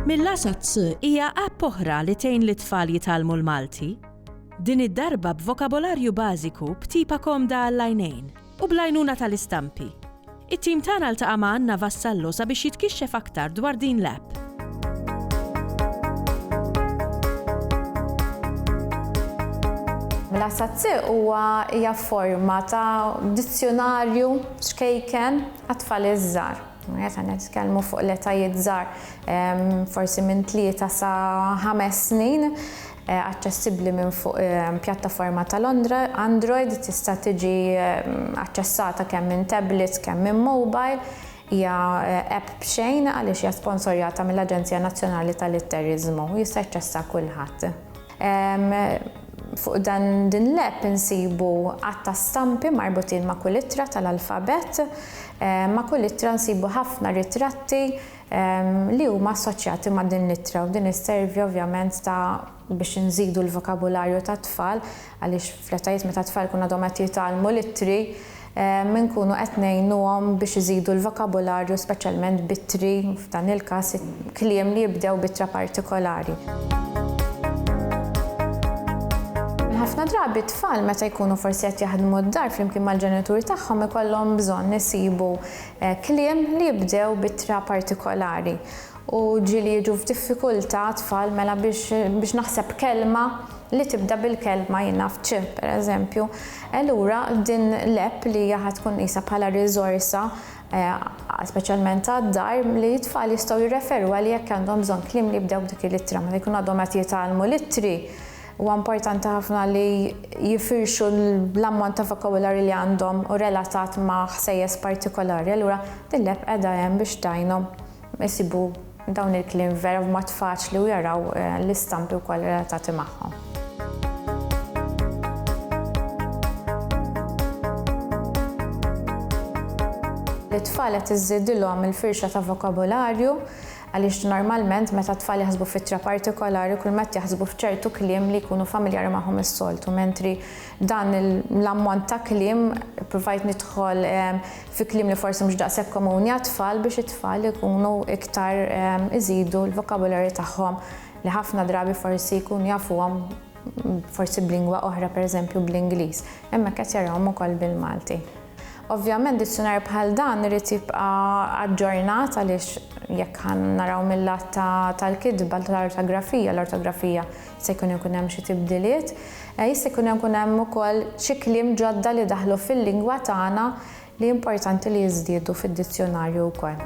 Mill-għaxa ċ hija app oħra li tgħin lit-tfal jitgħallmu l-Malti, din id-darba b'vokabolarju bażiku b'tipa komda għall-għajnejn. u bl-għajnuna tal-istampi. It-tim tagħna ltaqa' ma' Anna Vassallo sabiex jitkixxef aktar dwar din l-app. Mela Sazzi huwa hija forma ta' dizzjunarju xkejken għat-tfal iż-żgħar. Meta nitkellmu fuq l-etajiet żgħar forsi minn tlieta sa ħames snin. aċċessibbli minn fuq pjattaforma ta' Londra, Android, tista' tiġi aċċessata kemm minn tablets kemm minn mobile. Hija app b'xejn għaliex hija sponsorjata mill-Aġenzija Nazzjonali tal-Litteriżmu u jista' jaċċessha kulħadd. Fuq din l-app insibu għadd ta' stampi marbutin ma' kull ittra tal-alfabett. Ma' kull ittra nsibu ħafna ritratti li huma assoċjati ma' din l-ittra u din isservi ovvjament ta' biex inżidu l-vokabularju tat-tfal għaliex fl-etajiet meta t-tfal jkunu għadhom qed jitgħallmu l-ittri inkunu qed ngħinuhom biex iżidu l-vokabularju speċjalment b'ittri f'dan il-każ kliem li jibdew b'ittra partikolari. Ħafna drabi t-tfal meta jkunu forsi qed jaħdmu d-dar flimkien mal-ġenitur tagħhom ikollhom bżonn isibu Kliem li jibdew b'ittra partikolari u ġieli jiġu f'diffikultà tfal mela biex naħseb kelma li tibda bil-kelma jien naf ċ, pereżempju. Allura din l-app li hija ħa tkun qisha bħala riżorsa speċjalment għad-dar li t-tfal jistgħu jirreferu għaliha jekk għandhom bżonn kliem li jibdew b'dik il-ittra meta jkunu għadhom qed jitgħallmu l-ittri. Huwa importanti ħafna li jifirxu l-ammont ta' vokabularju li għandhom u relatat ma' ħsejjes partikolari, allura din l-app qiegħda hemm biex tgħinhom isibu dawn il-kliem vera b'mod faċli u jaraw l-istampi wkoll relatati magħhom. Lit-tfal qed iżżidilhom il-firxa ta' vokabularju Għaliex normalment meta t-tfal jaħsbu f'ittra partikolari kulmad jaħsbu f'ċertu kliem li jkunu familjari magħhom is-soltu, mentri dan l-ammont ta' kliem ippruvajt nidħol fi kliem li forsi mhux daqshekk komuni għat-tfal biex it-tfal ikunu iktar iżidu l-vokabularju tagħhom li ħafna drabi forsi jkunu jafuhom forsi b'lingwa oħra pereżempju bl-Ingliż. Hemmhekk qed jarahom ukoll bil-Malti. Ovvjament dizzjunarju bħal dan irid jibqa' aġġornat għaliex jekk ħa naraw mil-lat ta' tal-kitba tal-ortografija, l-ortografija se jkun ikun hemm xi tibdiliet, jista' jkun ikun hemm ukoll xi kliem ġodda li daħlu fil-lingwa tagħna li importanti li jiżdiedu fid-dizzjunarju wkoll.